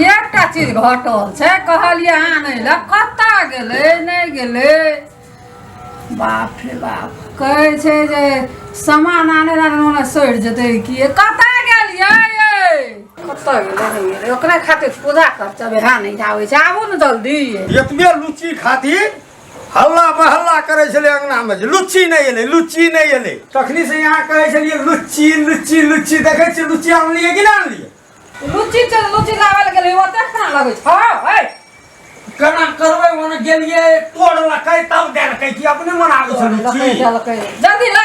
एकटा चीज घटल छै कहलियै आनै लए कतऽ गेलै नहि गेलै बाप रे बाप कहै छै जे सामान आने लए ओना सड़ि जेतै कि कतऽ गेलियै कतऽ गेलै नहि गेलै ओकरा खातिर पूजा कर चबे हाँ नहि आबै छै आबू ने जल्दी एतबे लुची खातिर हल्ला पर हल्ला करै छलै अङ्गनामे जे लुच्ची नहि एलै लुच्ची नहि एलै तखनीसँ यहाँ कहै छलियै लुच्ची लुच्ची लुच्ची देखै छियै लुच्ची आनलियै कि नहि आनलियै लुच्ची छै लुच्ची लाबै लए गेलै ओतऽ केना लगै छै हँ है केना करबै ओने गेलियै तोड़लकै तब देलकै कि अपने मनाबै छै लुच्ची जल्दी ला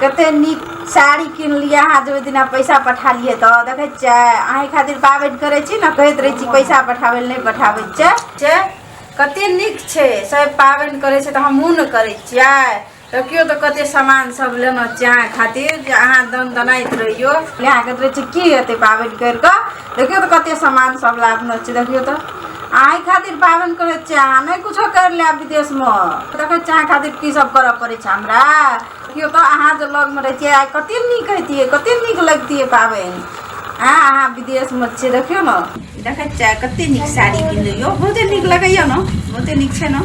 कते नीक साड़ी किनलियै अहाँ जे ओहि दिना पैसा पठालियै तऽ देखै छियै अहीं खातिर पाबनि करै छी ने कहैत रहै छी पैसा पठाबै लए नहि पठाबै छै छै कते नीक छै सब पाबनि करै छै तऽ हमहूँ ने करै छियै तऽ केओ तऽ कते सामान सब लेना छै अहाँ खातिर जे अहाँ दन दनाइत रहियो अहाँ कहैत रहै छी की हेतै पाबनि करि कऽ देखियौ तऽ कते सामान सब लादने छै देखियौ तऽ आइ खातिर पाबनि करै छियै अहाँ नहि कुछो करि लेब विदेशमे देखै छियै अहाँ खातिर की सब करऽ पड़ै छै हमरा देखियौ तऽ अहाँ जे लगमे रहै छियै आइ कते नीक हेतियै कते नीक लगतियै पाबनि आँ अहाँ विदेशमे छियै देखियौ ने देखै छियै कते नीक साड़ी किनलियै बहुते नीक लगैया ने बहुते नीक छै ने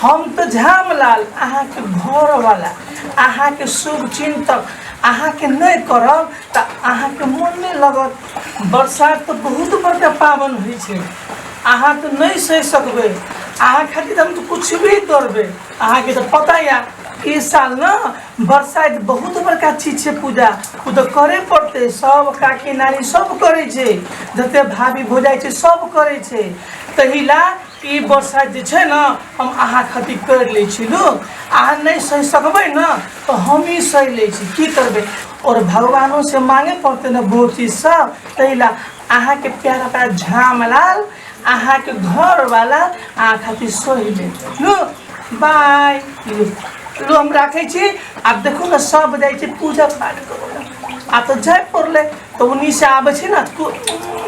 हम तऽ झामलाल अहाँके घरवला अहाँके शुभ चिन्तक अहाँके नहि करब तऽ अहाँके मोन नहि लगत बरसात तऽ बहुत बड़का पाबनि होइ छै अहाँ तऽ नहि सहि सकबै अहाँ खातिर हम तऽ किछु भी करबै अहाँके तऽ पता यऽ ई साल ने बरसाइत बहुत बड़का चीज छै पूजा ओ तऽ करे पड़तै सब काकी नानी सब करै छै जते भाभी भौजाइ छै सब करै छै तही ला ई बरसाइत जे छै ने हम अहाँ खातिर करि लै छी लोक अहाँ नहि सहि सकबै ने तऽ हमही सहि लै छी की करबै आओर भगवानो से मांगे पड़तै ने बहुत चीज सब तही ला अहाँके प्यारा प्यारा झामलाल अहा के घर वाला आ खातिर सोहि ले लो बाय लो हम राखे छी आप देखो ना सब जाय छी पूजा पाठ करो आ तो जाय पड़ले तो उन्हीं से आबे छी ना तो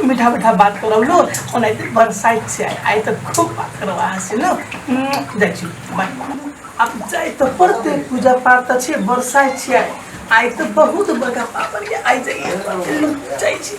मीठा मीठा बात करो लो ओने बरसाइत से आय आय तो खूब बात करो अहा से लो जाय छी बाय अब जाय तो पड़ते पूजा पाठ तो छे बरसाइत से आय आय तो बहुत बड़ा पापड़ आय जाइए जाय छी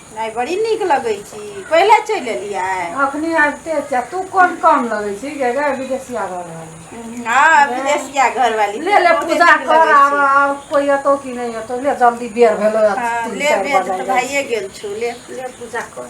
नहि बड़ी नीक लगै छी पहिले चलि एलियै अखनी आबिते छै तू कोन काम लगै छी गे गे विदेशिया घर वाली हँ विदेशिया घर वाली ले ले पूजा कर आब आब कोई एतो कि नहीं एतो ले जल्दी बेर भेलो हाँ, ले बेर तो भाइये गेल छु ले ले पूजा कर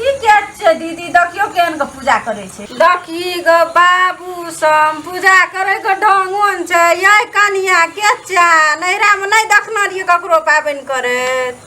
ई क्या छै दीदी देखियो केहन के पूजा करे छै देखी ग बाबू सम पूजा करे के ढंगोन छै ये कनिया के चा नैरा में नहीं देखना रहिए ककरो पाबनि करैत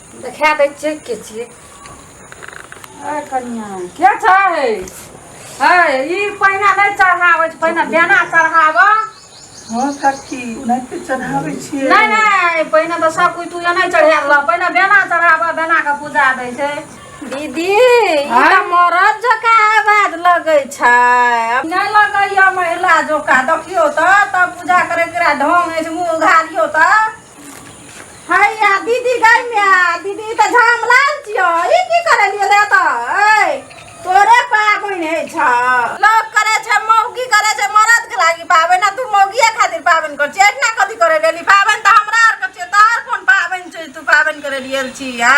देखा दै छियै के छियै अरे कनिया के छै है ई पहिना नहि चढ़ाबै छै पहिना बेना चढ़ाबऽ हँ काकी ओनाहिते चढ़ाबै छियै नहि नहि पहिने तऽ सब कुछ तू नहि चढ़ा देलऽ पहिने बेना चढ़ाबऽ बेना के पूजा दै छै दीदी ई हाँ? तऽ मरद जकाँ आवाज लगै छै अब नहि लगैया महिला जोका देखियो तऽ तब पूजा करे के ढंग अछि मुँह उघारियो तऽ हैया दीदी गई मिया दीदी तऽ झाम लाल छियो ई की करे लिए ले तऽ ऐ तोरे पाबनि है छ लोग करे छै मौगी करे छै मरद के लागी पाबनि ना तू मौगिया खातिर पाबनि कर छै ना कथी करे लेली पाबनि तऽ हमरा आर के छै तोहर कोन पाबनि छै तू पाबनि करे लिए छी आ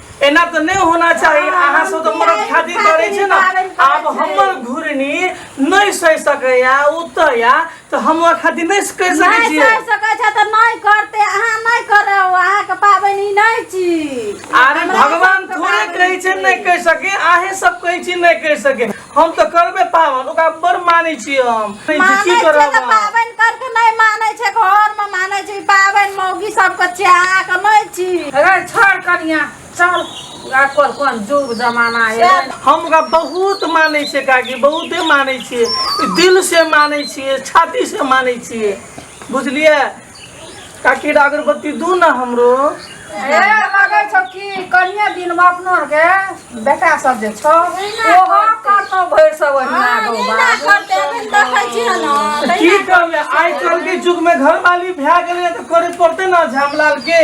एना तऽ नहि होना चाही अहाँ सब तऽ मरद खातिर करै छै ने आब हमर घुरनी नहि सहि सकैया उतया तऽ हम ओकरा खातिर नहि कहि सकै नहि छियै कर सकै छै तऽ नहि करते अहाँ नहि करब अहाँके पाबनि ई नहि छी अरे हमरा भगवान सबके थोड़े पाबनि कहै छै छी। नहि कहि सके अहे सब कहै छी नहि कहि सके हम तऽ करबे पावन ओकरा बड़ मानै छियै हम की मानै छै करब तऽ हम? पाबनि करके नहि मानै छै घरमे मानै छै पाबनि मौगी सबके चाह के नहि छी रे छोड़ कनिया चल आ कोन कोन जुग जमाना है हम ओकरा बहुत मानै छियै काकी बहुते मानै छियै दिल से मानै छियै छाती से मानै छियै बुझलियै काकी रे अगरबत्ती दू ना हमरो ए लगे छौ कि कनिए दिन में अपनो आर के बेटा सब जे छौ ओहो करतो भरि सब ओहिना गौ बाबू की करले आइ काल्हि के युग में घर वाली भए गेलै तऽ करे पड़ते ना झामलाल के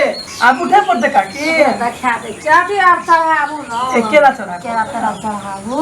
आब उठे पड़ते काकी देखा दे चाटी आर चढ़ाबू ने एकेला चढ़ा केरा तेरा चढ़ाबू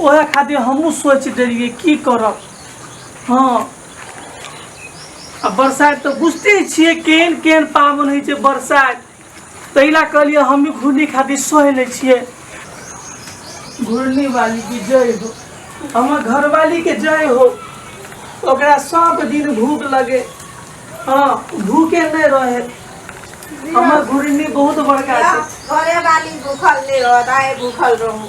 ओहे खातिर हमहूँ सोचि देलियै की करब हँ आ बरसाइत तऽ बुझते छियै केहन केहन पाबनि होइ छै बरसाइत ताहि लए कहलियै हमही घूर्णी खातिर सहि लै छियै घूर्णी वाली की जय हो हमर घरवाली के जय हो ओकरा सब दिन भूख लगे हँ भूखे नहि रहे हमर घूर्णी बहुत बड़का छै घरे वाली भूखल नहीं रहता है भूखल रहूं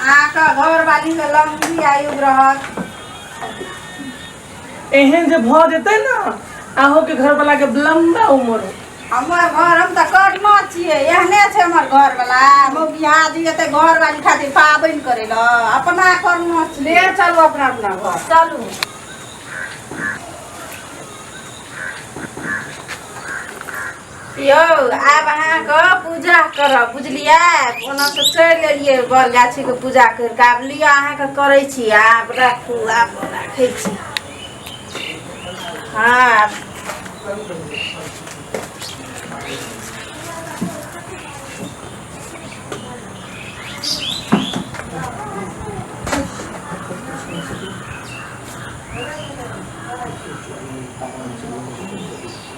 अहाँके घर वाली के लंबी आयु रहत एहन जे भऽ जेतै ने अहूँ के घर वाला के लंबा उम्र हो हमर घर हम तऽ कर्मा छियै एहने छै हमर घर वाला मौगिया दी एते घर वाली खातिर पाबनि करे ल अपना कर्मा ले छियै चलू अपना अपना घर चलू यौ आब अहाँके पूजा करब बुझलियै ओनासँ चलि एलियै बर गाछीके पूजा करि कऽ आब लिअ अहाँके करै छी आब राखू आब राखै छी हँ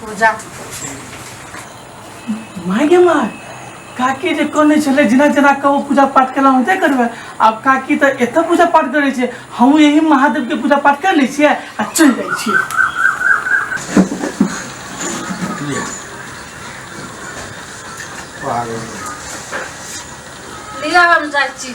पूजा माय गे माय काकी जे कहने छलै जेना जेना कहू पूजा पाठ केना होते करबै आब काकी तऽ एतऽ पूजा पाठ करै छै हमहूँ यही महादेवके पूजा पाठ कर लै छियै आ चलि जाइ छियै लिया हम जाइ छी